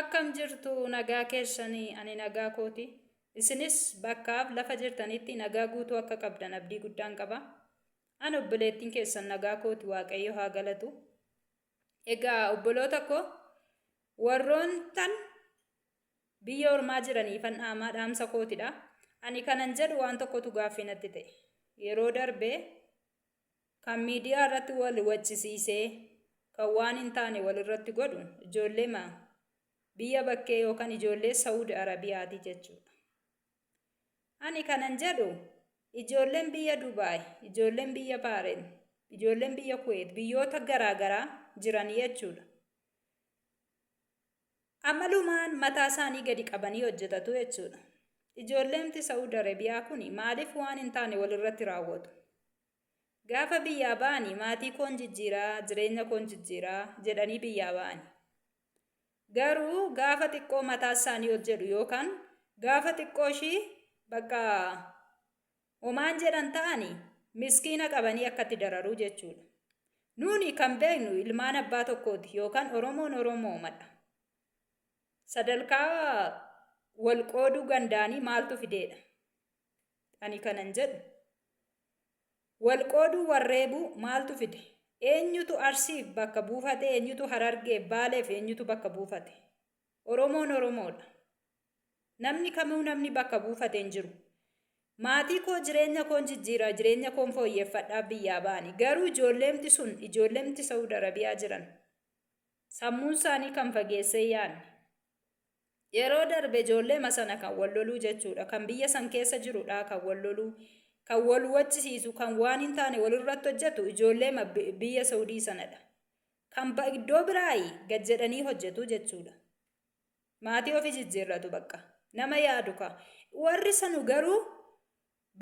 Akkam jirtu nagaa keessanii ani nagaa kooti. Isinis bakkaaf lafa jirtanitti nagaa guutuu akka qabdan abdii guddaan qaba. An obboleettiin keessan nagaa kooti waaqayyo haa galatu. Egaa obboloota koo warroontan Biyya ormaa jiraniifan dhaamaa dhaamsa kootidha. Ani kanan jedhu waan tokkotu gaaffii natti ta'e. Yeroo darbe kan miidiyaa irratti wal waccisiisee kan waan hin taane walirratti godhu ijoolleema biyya bakkee yookaan ijoollee Sawud Arabiyaati jechuudha. Ani kanan jedhu ijoolleen biyya Dubaay, ijoolleen biyya Baareen, ijoolleen biyya Kuweet biyyoota garaagaraa jiran jechuudha. Amalumaan mataa isaanii gadi qabanii hojjetatu jechuudha. Ijoolleemti Sa'ud Arabiyaa kun maaliif waan hin taane walirratti raawwatu? Gaafa biyyaa ba'ani maatii koon jijjiiraa, jireenya koon jijjiiraa jedhanii biyyaa ba'ani. Garuu gaafa xiqqoo mataa isaanii ol jedhu yookaan gaafa xiqqoo ishii bakka Homaan jedhan ta'ani miskiina qabanii akka itti dararuu jechuudha. Nuuni kan beeknu ilmaan abbaa tokkooti yookaan Oromoon Oromoomadha. Sadalkaa wal qooduu gandaanii maaltu fideedha? Ani kanan jedhu wal qooduu wal reebuu maaltu fide? Eenyutu Arsiif bakka buufate? Eenyutu Harargeef Baaleef eenyutu bakka buufate? Oromoon Oromoodha. Namni kamuu namni bakka buufate hin jiru. Maatii koo jireenya koon jijjiira, jireenya koon fooyyeffadhaaf biyyaa ba'ani. Garuu ijoolleemti sun ijoolleemti Sa'ud Arabiyaa jiran sammuun isaanii kan fageessee yaanne. Yeroo darbe ijoolleema sana kan wal loluu jechuudha. Kan biyya san keessa jirudha kan wal loluu, kan wal wachisiisu, kan waan hin taane walirratti hojjetu ijoolleema biyya Sa'udii sanadha. Kan ba iddoo biraayi gad jedhanii hojjetu jechuudha. Maatii ofi jijjiirratu baqqa. Nama yaadu ka. Warri sanu garuu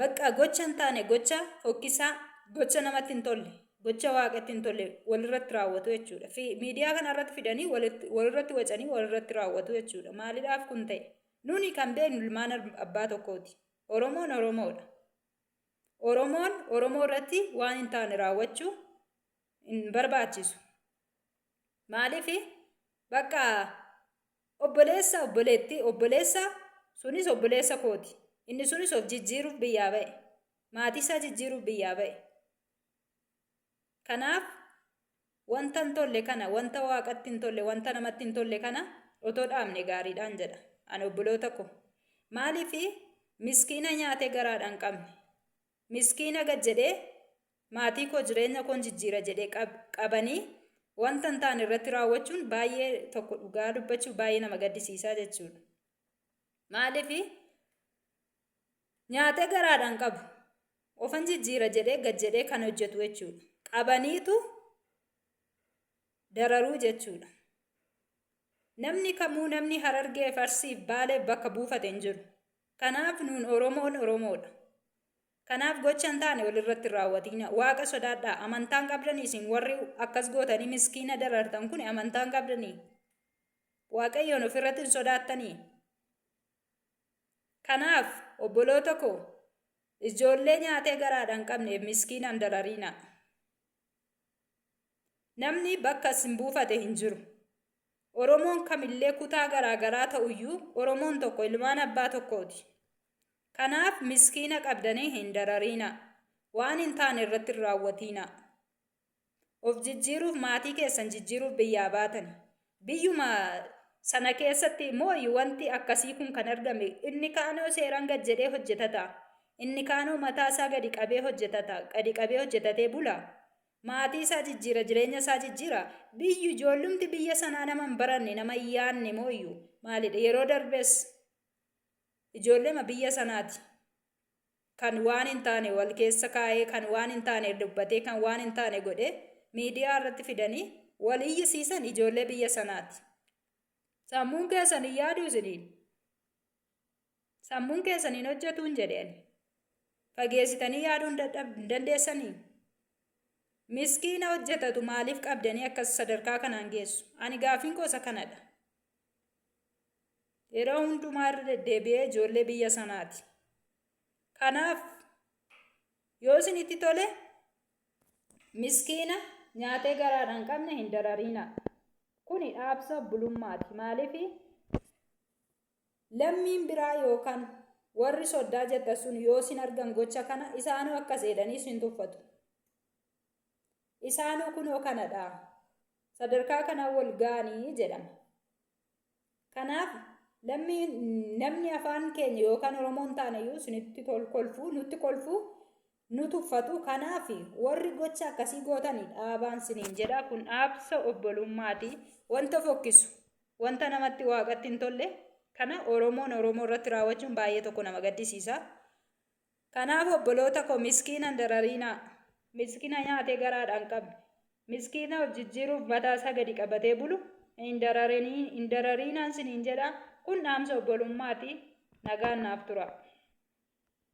baqqa gocha hin taane gocha fokkisaa gocha namatti hin tolle gocha waaqatti hin tolle walirratti raawwatu jechuudha. Fi miidiyaa kana irratti fidanii walitti- walirratti wacanii walirratti raawwatu jechuudha. Maalidhaaf kun ta'e? Nuni kan beeknu ilmaan ab- abbaa tokkooti. Oromoon Oromoodha. Oromoon Oromoo irratti waan hin taane raawwachuu hin barbaachisu. Maaliif bakka obboleessa obboleettii obboleessa sunis obboleessa kooti. Inni sunis of jijjiiruuf biyyaa ba'e. Maatii isaa jijjiiruuf biyyaa ba'e. Kanaaf wanta hin tolle kana wanta waaqatti hin tolle wanta namatti hin tolle kana otoo dhaabne gaariidhaan jedha. Ani obboloota koo. Maaliif miskiina nyaatee garaadhaan qabne. Miskiina gad jedhee maatii koo jireenya koon jijjiira jedhe qabanii wanta hin taane irratti raawwachuun baay'ee tokko dhugaa dubbachuu baay'ee nama gaddisiisaa jechuudha. Maaliif nyaatee garaadhaan qabu ofan jijjiira jedhee gad jedhee kan hojjetu jechuudha. Qabaniitu dararuu jechuudha. Namni kamuu namni harargee farsiif baalee bakka buufate hin jiru. Kanaaf nuun Oromoon Oromoodha. Kanaaf gocha hin taane wal irratti hin raawwatiina. Waaqa sodaadhaa. Amantaa hin qabdanii isin warri akkas gootanii miskiina darartan kuni amantaa hin qabdanii? Waaqayyoon of irratti hin sodaattanii? Kanaaf obboloota koo ijoollee nyaatee garaadha hin qabneef miskiina hin darariina. Namni bakka isin buufate hin jiru. Oromoon kamillee kutaa garaa garaa ta'uyyuu Oromoon tokko ilmaan abbaa tokkooti. Kanaaf miskiina qabdanii hin darariina. Waan hin taane irratti hin raawwatiina. Of jijjiiruuf maatii keessan jijjiiruuf biyyaa baatani. Biyyuma sana keessatti mooyi wanti akkasii kun kan argame. Inni kaanoo seeraan gad jedhee hojjetata. Inni kaanoo mataa isaa gadi qabee hojjetata. Gadi qabee hojjetatee bula. Maatii isaa jijjiira, jireenya isaa jijjiira. Biyyu ijoollumti biyya sanaa nama hin baranne, nama hin yaanne mooyyu maalidha? Yeroo darbes ijoollema biyya sanaati. kan waan hin taane wal keessa kaa'ee, kan waan hin taane dubbatee, kan waan hin taane godhe miidiyaa irratti fidanii wal iyyisiisan ijoollee biyya sanaati. Sammuun keessan hin yaadu isiniin. Sammuun keessan hin hojjetu hin jedhe ani. Fageessitanii yaaduu hin dadhab- hin dandeessanii? Miskiina hojjetatu maaliif qabdanii akkas sadarkaa kanaan geessu? Ani gaaffiin koo isa kanadha. Yeroo hundumaa irra deddeebi'ee ijoollee biyya sanaati. Kanaaf yoo isinitti tole miskiina nyaatee garaadhaan qabne hin darariina. Kuni dhaabsa obbolummaati. Maaliif lammiin biraa yookaan warri soddaa jettan sun yoo isin argan gocha kana isaanuu akkas jedhanii isin tuffatu. Isaanuu kunoo kana dha. Sadarkaa kanaan wal ga'anii jedhama. Kanaaf lammii namni afaan keenya yookaan Oromoon taaneyyuu isinitti tol kolfuu nutti kolfuu nu tuffatu. Kanaaf warri gocha akkasii gootanii dhaabaan siniin jedha. Kun dhaabsa obbolummaati. Wanta fokkisu, wanta namatti waaqatti hin tolle kana Oromoon Oromoo irratti raawwachuun baay'ee tokko nama gaddisiisa. Kanaaf obboloota koo miskiina hin darariinaa. Miskina nyaatee garaadhaa hin qabne. Miskiina of jijjiiruuf mataa isaa gadi qabatee bulu hin dararinii- hin darariinaan siniin jedhaa kun dhaamsa obbolummaati. Nagaan naaf turaa.